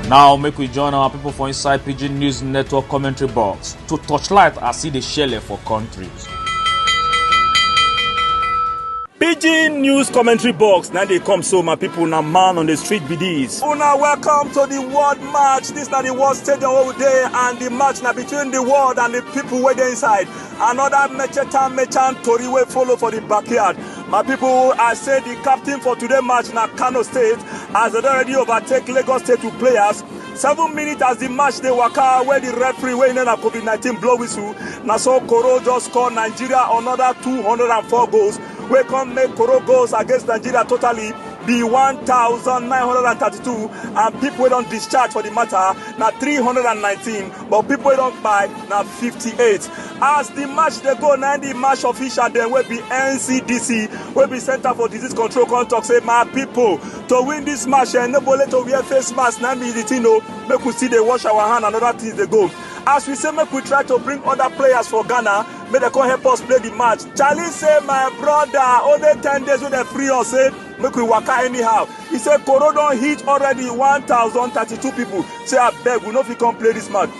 now make we join our people for inside pidgin news network commentary box to torchlight as e dey shele for country. pidgin news commentary box na dey come so my people na man on the street be dis. una welcome to the world match dis na the world stadium wey we dey and the match na between the world and the people wey dey inside another mecheta mechan tori wey follow for the backyard My people, I say the captain for today match na Kano State as they already overtake Lagos State with players. Seven minutes as the match dey waka where the referee wey na COVID-19 blow whistle. Na so Koro just score Nigeria another 204 goals wey come make Koro goals against Nigeria totally be 1,932 and people wey don discharge for the matter na 319 but people wey don kpai na 58. as di match dey go na di match official dem wey be ncdc wey be center for disease control come talk say my pipo to win dis match eh, no bole to wear face mask na be di tin o oh. make we still dey wash our hand and oda tins dey go as we say make we try to bring other players for ghana make dem come help us play the match charlie say my brother only ten days wey dem free us say make we waka anyhow he say koro don hit already one thousand thirty-two people say abeg we no fit come play this match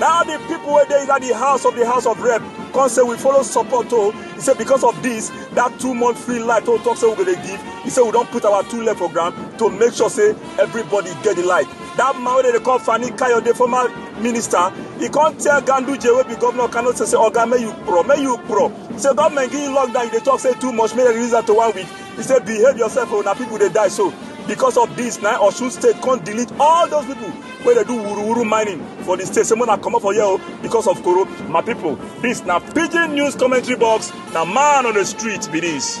Now the people were there at the house of the house of rep. Come say we follow support oh. He said because of this, that two month free light oh talk say we gonna give. He said we don't put our two left program to make sure say everybody get the light. That man wey dey call Fani Kayode former minister, he come tell Ganduje wey be governor Kano say say oga make you pro, make you pro. He say government give you lockdown, you dey talk say too much, make dem release am to one week. He say behave yourself oh, na people dey die so. Because of this, na Osun state come delete all those people wey dey do wuruwuru mining for di state say make una comot for here o because of koro my pipo dis na pidgin news commentary box na man on di street be dis.